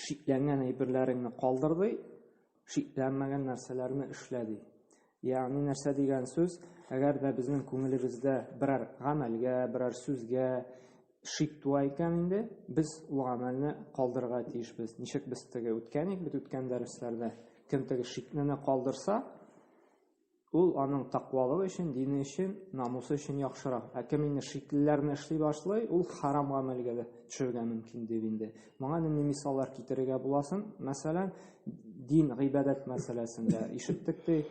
шикләнгән әйберләреңне калдыр ди, шикләнмәгән нәрсәләрне эшлә ди. Ягъни нәрсә дигән сүз, әгәр дә безнең күңелебездә берәр гамәлгә, берәр сүзгә шик туа икән инде, без ул гамәлне калдырырга тиешбез. Ничек без теге үткән ик бит үткән дәресләрдә, кем теге шикне калдырса, Ул аның такъвалыгы өчен, дине өчен, намусы өчен яхшырак. Ә кем инде шиклеләрне эшли башлый, ул хәрам гамәлгә дә төшәргә мөмкин, дип инде. Моңа нинди мисаллар китерергә була соң? Мәсәлән, дин, гыйбадәт мәсьәләсендә ишеттек, ди,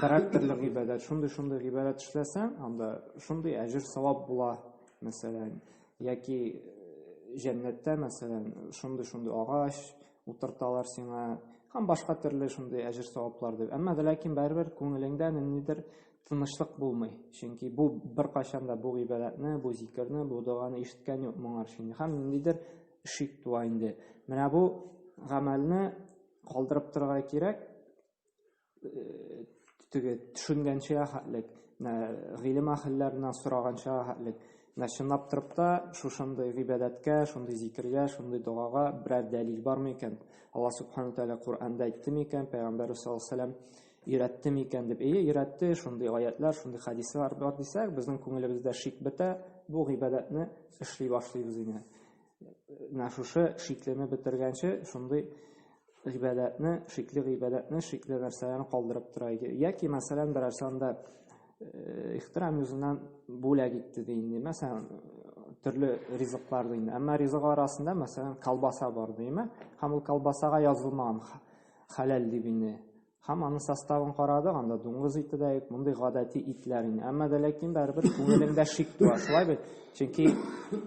берәр төрле гыйбадәт, шундый-шундый гыйбадәт эшләсәң, анда шундый әҗер-савап була, мәсәлән, яки җәннәттә, мәсәлән, шундый-шундый агач, утырталар сиңа һәм башка төрле шундый әҗер саваплар дип. Әмма ләкин барыбер күңелеңдә ниндидер тынычлык булмый. Чөнки бу беркайчан да бу гыйбадәтне, бу зикерне, бу доганы ишеткән юк моңар чын. Һәм ниндидер шик туа инде. Менә бу гамәлне калдырып торырга кирәк. теге төшенгәнчә хәтлек, гыйлем әһелләреннән сораганча хәтлек, менә чынлап торып та шушындый гыйбадәткә, шундый зикергә, шундый догага берәр дәлил бармы икән? Алла Субхану Тәгалә Коръәндә әйтте микән, пәйгамбәр саллаллаһу алейһи вәсәлләм өйрәтте микән дип. Әйе, өйрәтте, шундый аятлар, шундый хәдисләр бар дисәк, безнең күңелебездә шик бетә, бу гыйбадәтне эшли башлыйбыз инде. менә шушы шиклене бетергәнче шундый гыйбадәтне, шикле гыйбадәтне, шикле нәрсәләрне калдырып тора иде. Яки, мәсәлән, берәр санда э, ихтирам юзынан бүләк итте ди инде. Мәсәлән, төрле ризыклар ди инде. Әмма ризык арасында, мәсәлән, колбаса бар димме? Һәм ул колбасага язылмаган хәләл дип инде. Һәм аны составын карадык, анда дуңгыз ите дә юк, мондый гадәти итләр инде. Әмма дә ләкин барыбер күңелеңдә шик туа, шулай бит? Чөнки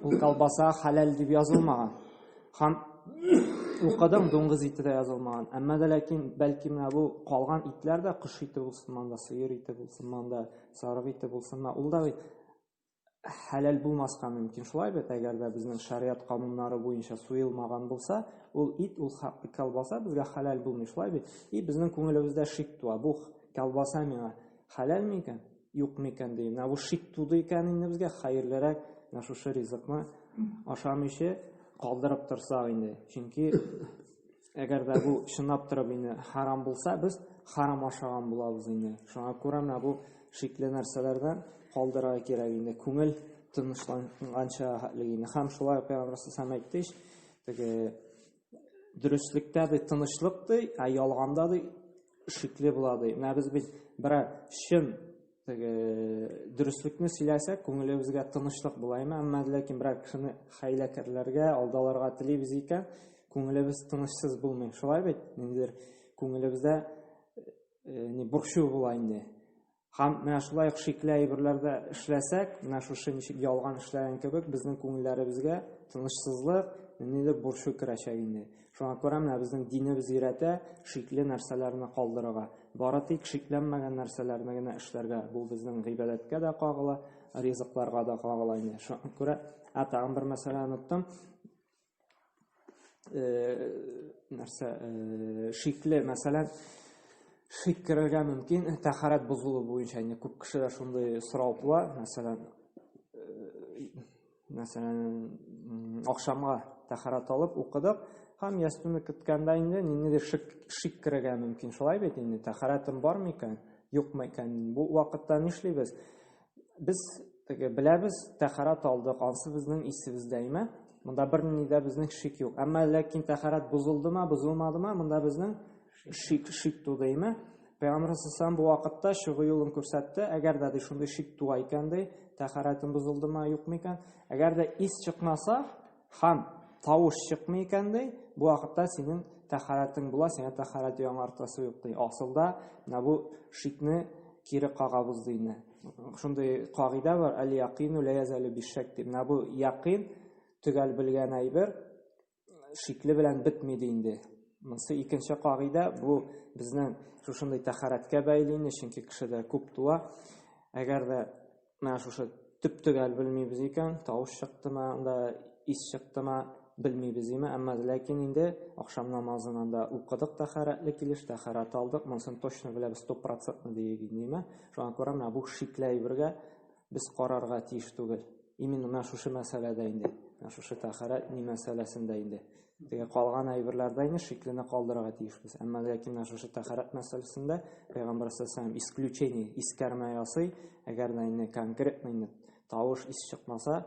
ул колбаса халал дип язылмаган. Һәм укыдым дуңгыз ите дә язылмаган. Әмма дә ләкин бәлки менә бу калган итләр дә кош ите булсын монда, сыер ите булсын монда, сарык ите булсын монда, ул да бит хәләл булмаска мөмкин. Шулай бит, әгәр дә безнең шәригать кануннары буенча суелмаган булса, ул ит, ул колбаса безгә хәләл булмый, шулай бит? И безнең күңелебездә шик туа, бу колбаса миңа хәләл микән, юк микән дип. Менә бу шик туды икән инде безгә, хәерлерәк менә шушы ризыкны ашамыйча калдырып торсак инде. Чөнки Әгәр дә бу чынлап торып инде харам булса, без харам ашаган булабыз инде. Шуңа күрә менә бу шикле нәрсәләрдән калдырырга кирәк инде. Күңел тынычланганча хәтлек инде. Һәм шулай Пәйгамбәр сәм әйтте, теге дөреслектә дә тынычлык ди, ә ялганда ди шикле була ди. Менә без бит берәр чын теге дөреслекне сөйләсәк, күңелебезгә тынычлык була име, әмма ләкин берәр кешене хәйләкәрләргә, алдаларга телибез икән, күңелебез тынычсыз булмый. Шулай бит, ниндидер күңелебездә э, не борчу була инде. Һәм менә шулай ук шикле әйберләрдә эшләсәк, менә шушы ничек ялган эшләгән кебек, безнең күңелләребезгә тынычсызлык, ниндидер борчу керәчәк инде. Шуңа күрә менә безнең динебез өйрәтә шикле нәрсәләрне калдырырга. Бары тик шикләнмәгән нәрсәләрне генә эшләргә. Бу безнең гыйбадәткә дә кагыла, ризыкларга да кагыла инде. Шуңа күрә, ә тагын бер мәсьәлә оныттым. Э, нәрсә, э, шикле, мәсәлән, шик керергә мөмкин, тәхарәт бозылу буенча инде күп кешедә шундый сорау туа, мәсәлән, э, мәсәлән ахшамга тәхәрәт алып укыдык һәм ястүне көткәндә инде ниндидер шик, шик керергә мөмкин шулай бит инде тәхәрәтем бар микән юк микән бу вакытта нишлибез без теге беләбез тәхәрәт алдык ансы безнең исебездә име монда берни дә безнең шик юк әмма ләкин тәхәрәт бозылдымы бозылмадымы монда безнең Шик, шик тудыймы? Пәйгамбәр сәлләм бу вакытта чыгу юлын күрсәтте. Әгәр дә ди шундый шик туа икән ди, тәһарәтем бозылдымы, юкмы икән? Әгәр дә ис чыкмаса һәм тавыш чыкмый икән ди, бу вакытта синең тәһарәтең була, сиңа тәһарәт яңартасы юк ди. Асылда менә бу шикне кире кагабыз ди инде. Шундый кагыйдә бар, әл-якыйну ла язалю бишшәк дип. Менә бу якыйн төгәл белгән әйбер, шикле белән бетми ди инде. Монсы икенче кагыйдә, бу безнең шушындый тәхәрәткә бәйле инде, чөнки кешедә күп туа. Әгәр дә менә шушы төп төгәл белмибез икән, тавыш чыктымы, анда ис чыктымы, белмибез име, әмма ләкин инде ахшам намазыннан да укыдык тәхәрәтле килеш, тәхәрәт алдык, монысын точно беләбез, 100% диеп инде, шуңа күрә менә бу шикләй бергә без карарга тиеш түгел. Именно менә шушы мәсьәләдә инде, менә шушы тәхарәт ни мәсьәләсендә инде. Теге калган әйберләрдә инде шиклене калдырырга тиешбез. Әмма ләкин менә шушы тәхарәт мәсьәләсендә Пәйгамбәр саллаллаху исключение, искәрмә ясый, әгәр дә инде конкретно инде тавыш ис чыкмаса,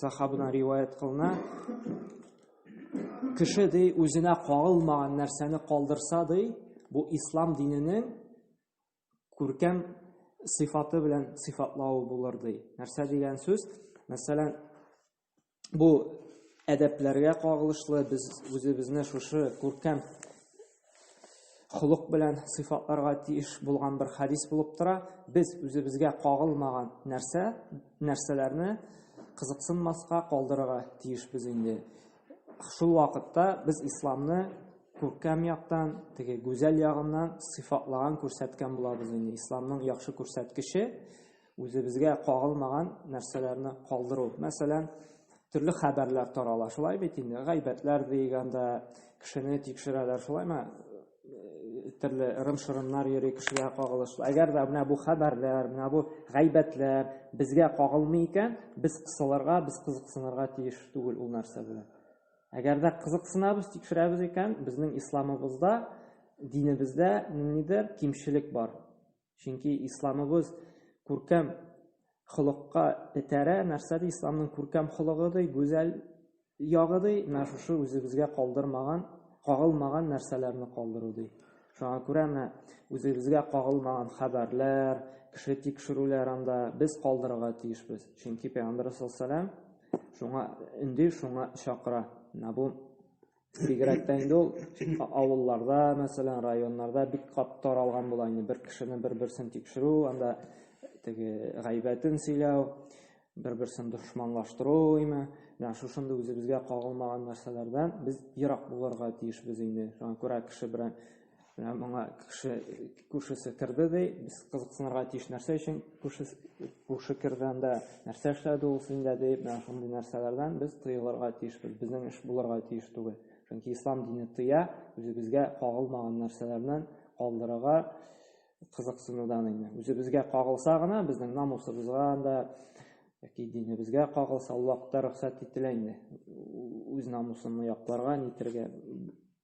сахабыдан риваят кылына кеше ди үзенә кагылмаган нәрсәне калдырса ди бу ислам диненең күркәм сыйфаты белән сыйфатлавы булыр ди нәрсә дигән сүз мәсәлән бу әдәпләргә кагылышлы без үзебезне шушы күркәм Холык белән сыйфатларга тиеш булган бер хадис булып тора. Без үзебезгә кагылмаган нәрсә, нәрсәләрне кызыксынмаска калдырырга тиешбез инде. Шул вакытта без исламны күркәм яктан, теге гүзәл ягыннан сыйфатлаган, күрсәткән булабыз инде. Исламның яхшы күрсәткече Үзебезгә кагылмаган нәрсәләрне калдыру. Мәсәлән, төрле хәбәрләр тарала. Шулай бит инде, гайбәтләр дигәндә кешене тикшерәләр, шулаймы? Төрле ырым-шырымнар йөри кешегә кагылышлы. Әгәр дә менә бу хәбәрләр, менә бу гайбәтләр безгә кагылмый икән, без кысылырга, без кызыксынырга тиеш түгел ул нәрсә белән. Әгәр дә кызыксынабыз, тикшерәбез икән, безнең исламыбызда, динебездә ниндидер кимчелек бар. Чөнки исламыбыз күркәм холыкка этәрә, нәрсә ди исламның күркәм холыгы ди, гүзәл ягы ди, менә шушы үзебезгә калдырмаган, кагылмаган нәрсәләрне калдыру ди. Шуңа күрә менә үзебезгә кагылмаган хәбәрләр, кеше тикшерүләр анда без калдырырга тиешбез. Чөнки Пәйгамбәр саллаллаху алейһи ва саллям шуңа өнди, шуңа чакыра. Менә бу Бигрәк тә инде ул авылларда, мәсәлән, районнарда бик кат таралган була инде бер кешене бер-берсен тикшерү, анда теге гайбәтен сөйләү, бер-берсен дошманлаштыру име. Менә шушында үзебезгә кагылмаган нәрсәләрдән без ерак булырга тиешбез инде. Шуңа күрә кеше белән Менә моңа кеше күршесе керде ди, без кызыксынырга тиеш нәрсә өчен күрше күрше керде анда, нәрсә эшләде ул синдә дип, менә шундый нәрсәләрдән без тыелырга тиешбез. Безнең эш булырга тиеш түгел. Чөнки ислам дине тыя, үзебезгә кагылмаган нәрсәләрдән калдырырга кызыксынудан инде. Үзебезгә кагылса гына, безнең намусыбызга анда яки динебезгә кагылса, ул вакытта рөхсәт ителә инде. Үз намусыңны якларга, нитергә,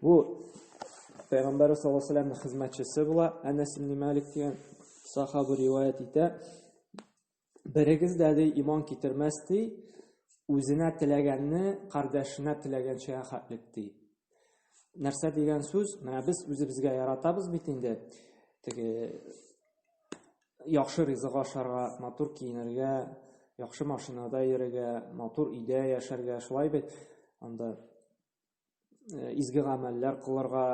Бу Пәйгамбәр саллаллаһу алейһи ва хезмәтчесе була. Әнәс ибн Малик дигән сахаба риваят итә. Берегез дә ди иман китермәс ди, үзенә теләгәнне кардәшенә теләгәнчә хәтлек ди. Нәрсә дигән сүз? Менә без үзебезгә яратабыз бит инде. Теге яхшы ризык ашарга, матур киенергә, яхшы машинада йөрергә, матур өйдә яшәргә, шулай бит. Анда э, изге гамәлләр кылырга,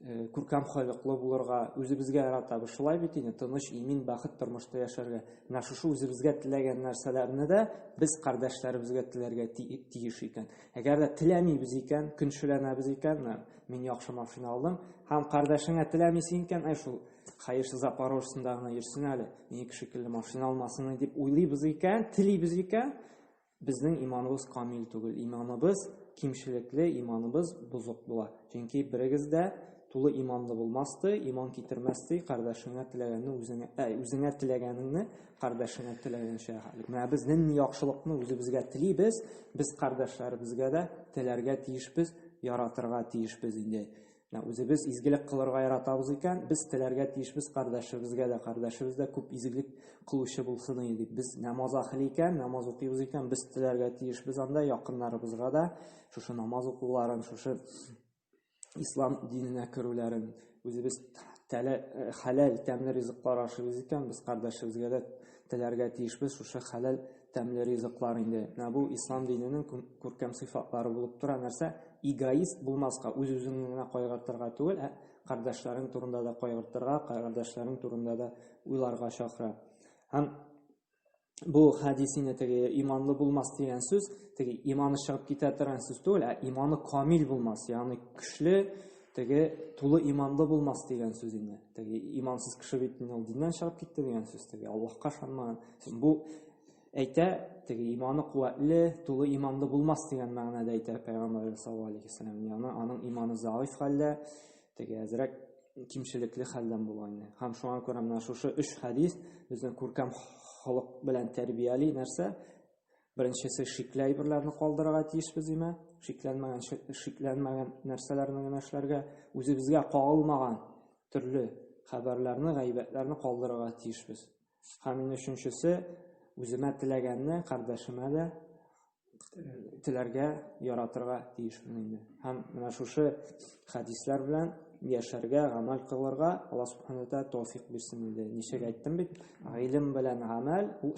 э, күркәм халыклы булырга, үзебезгә яратабы шулай бит инде, тыныч, имин, бәхет тормышта яшәргә. Менә шушы үзебезгә теләгән нәрсәләрне дә без кардәшләребезгә теләргә тиеш икән. Әгәр дә теләмибез икән, көнчеләнәбез икән, мин яхшы машина алдым, һәм кардәшеңә теләмисең икән, әй шул Хәерче Запорожцында гына йөрсен әле, минеке шикелле машина алмасын дип уйлыйбыз икән, телибез икән, Безнең иманыбыз камил түгел, иманыбыз кимчелекле, иманыбыз бозык була. Чөнки берегез дә тулы иманлы булмасты, иман китермәсте, кардәшеңә теләгәнне үзеңә, ә, үзеңә теләгәнеңне кардәшеңә теләгәнчә. Менә без нинди яхшылыкны үзебезгә телибез, без кардәшләребезгә дә теләргә тиешбез, яратырга тиешбез инде. Менә үзебез изгелек кылырга яратабыз икән, без теләргә тиешбез кардәшебезгә дә, кардәшебез дә күп изгелек кылучы булсын иде дип. Без намаз ахли икән, намаз укыйбыз икән, без теләргә тиешбез анда якыннарыбызга да шушы намаз укуларын, шушы ислам диненә керүләрен, үзебез тәлә э, хәләл тәмле ризыклар ашыйбыз икән, без кардәшебезгә дә теләргә тиешбез шушы хәләл тәмле ризыклар инде. Менә бу ислам диненең күркәм сыйфатлары булып тора. Нәрсә? Эгоист булмаска, үз-үзеңне генә кайгыртырга түгел, ә кардәшләрең турында да кайгыртырга, кардәшләрең турында да уйларга чакыра. Һәм бу хадисине теге иманлы булмас дигән сүз, теге иманы чыгып китә торган сүз түгел, ә иманы камил булмас, ягъни көчле, Теге тулы иманлы булмас дигән сүз инде. Теге имансыз кеше бит инде ул диннән чыгып китте дигән сүз. Теге Аллаһка ышанмаган. Бу әйтә, теге иманы куәтле, тулы иманлы булмас дигән мәгънәдә әйтә Пәйгамбәрбез саллаллаһу алейһи вәсәлләм. Яны аның иманы заиф хәлдә, теге әзрәк кимчелекле хәлдән була инде. Һәм шуңа күрә менә шушы өч хәдис безне күркәм холык белән тәрбияли нәрсә? Беренчесе шикле әйберләрне калдырырга тиешбез димә, шикләнмәгән шикләнмәгән нәрсәләрне генә эшләргә, үзебезгә кагылмаган төрле хәбәрләрне, гайбәтләрне калдырырга тиешбез. Һәм инде өченчесе үземә теләгәнне кардәшемә дә теләргә, яратырга тиешмен инде. Һәм менә шушы хәдисләр белән яшәргә, гамәл кылырга Алла субхана ва тааля тәүфик бирсен инде. Ничек әйттем бит, гыйлем белән гамәл ул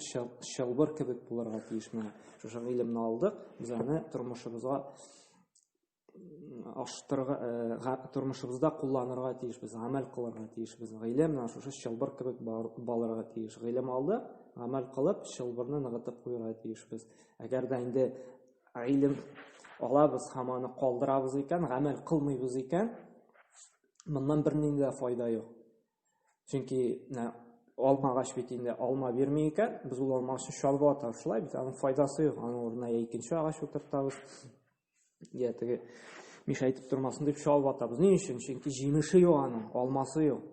чылбыр кебек булырга тиеш менә. Шушы гыйлемне алдык, без аны тормышыбызга аштырга, э, тормышыбызда кулланырга тиешбез, гамәл кылырга тиешбез. Гыйлем менә шушы чылбыр кебек балырга тиеш. Гыйлем алдык, гамәл кылып, чылбырны ныгытып куярга тиешбез. Әгәр дә инде Гыйлем алабыз һәм аны калдырабыз икән, гамәл кылмыйбыз икән, моннан бернинди дә файда юк. Чөнки алмагач бит инде алма бирми икән, без ул алма өчен чалбы атабыз, шулай бит, аның файдасы юк. Аның урынына я икенче агач утыртабыз, я теге мишәйтеп тормасын дип чалбы атабыз. Ни өчен? Чөнки җимеше юк аның, алмасы юк.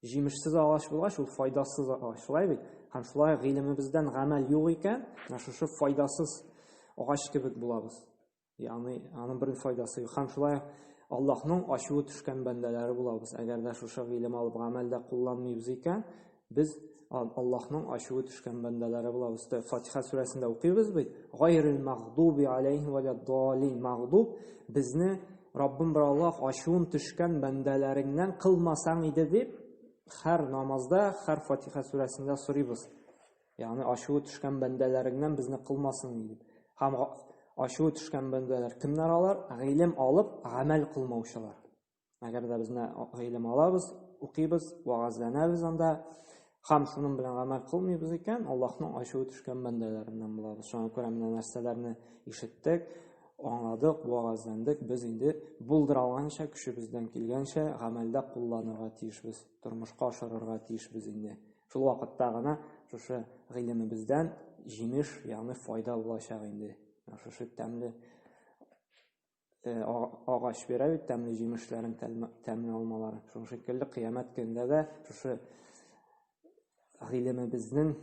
Җимешсез агач булгач, ул файдасыз агач. Шулай бит? Һәм шулай гыйлемебездән гамәл юк икән, менә шушы файдасыз агач кебек булабыз. Ягъни, аның бер файдасы юк. Һәм шулай Аллаһның ачуы төшкән бәндәләре булабыз. Әгәр дә шушы гыйлем алып гамәлдә кулланмыйбыз икән, без Аллаһның ачуы төшкән бәндәләре булабыз. Фатиха сүрәсендә укыйбыз бит. Гайрил мәгъдуби алейһи ва лад-далин. Мәгъдуб безне Раббым бер Аллаһ ачуын төшкән бәндәләреңнән кылмасаң иде дип, хәр намазда, хәр Фатиха сүрәсендә сорыйбыз. Ягъни ачуы төшкән бәндәләреңнән безне кылмасын дип. Һәм ачуы төшкән бәндәләр кемнәр алар? Гыйлем алып, гамәл кылмаучылар. Әгәр дә безне гыйлем алабыз, укыйбыз, вагазланабыз анда, Һәм шуның белән гамәл кылмыйбыз икән, Аллаһның ачуы төшкән бәндәләреннән булабыз. Шуңа күрә менә нәрсәләрне ишеттек, аңладык, вәгазьләндек, без инде булдыра алганча, көчебездән килгәнчә гамәлдә кулланырга тиешбез, тормышка ашырырга тиешбез инде. Шул вакытта гына шушы гыйлемебездән җимеш, ягъни файда булачак инде. Шушы тәмле э, агач бирә бит тәмле җимешләрен, тәмле алмаларын. Шуның шикелле кыямәт көндә дә шушы гыйлемебезнең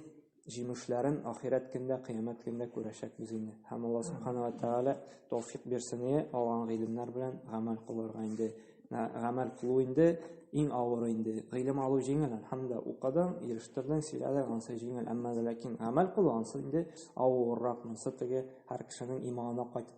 җимешләрен ахирәт көндә, кыямәт көндә күрәчәкбез инде. Һәм Алла Субханала Тәгалә тауфик бирсен ие, алган гыйлемнәр белән гамәл кылырга инде. Гамәл кылу инде иң авыр инде. Гыйлем алу җиңел, әлхәмдә, укыдың, ирештердең, сөйләдең, ансы җиңел. Әмма ләкин гамәл кылу ансы инде авыррак, монсы теге һәр кешенең иманына кайтып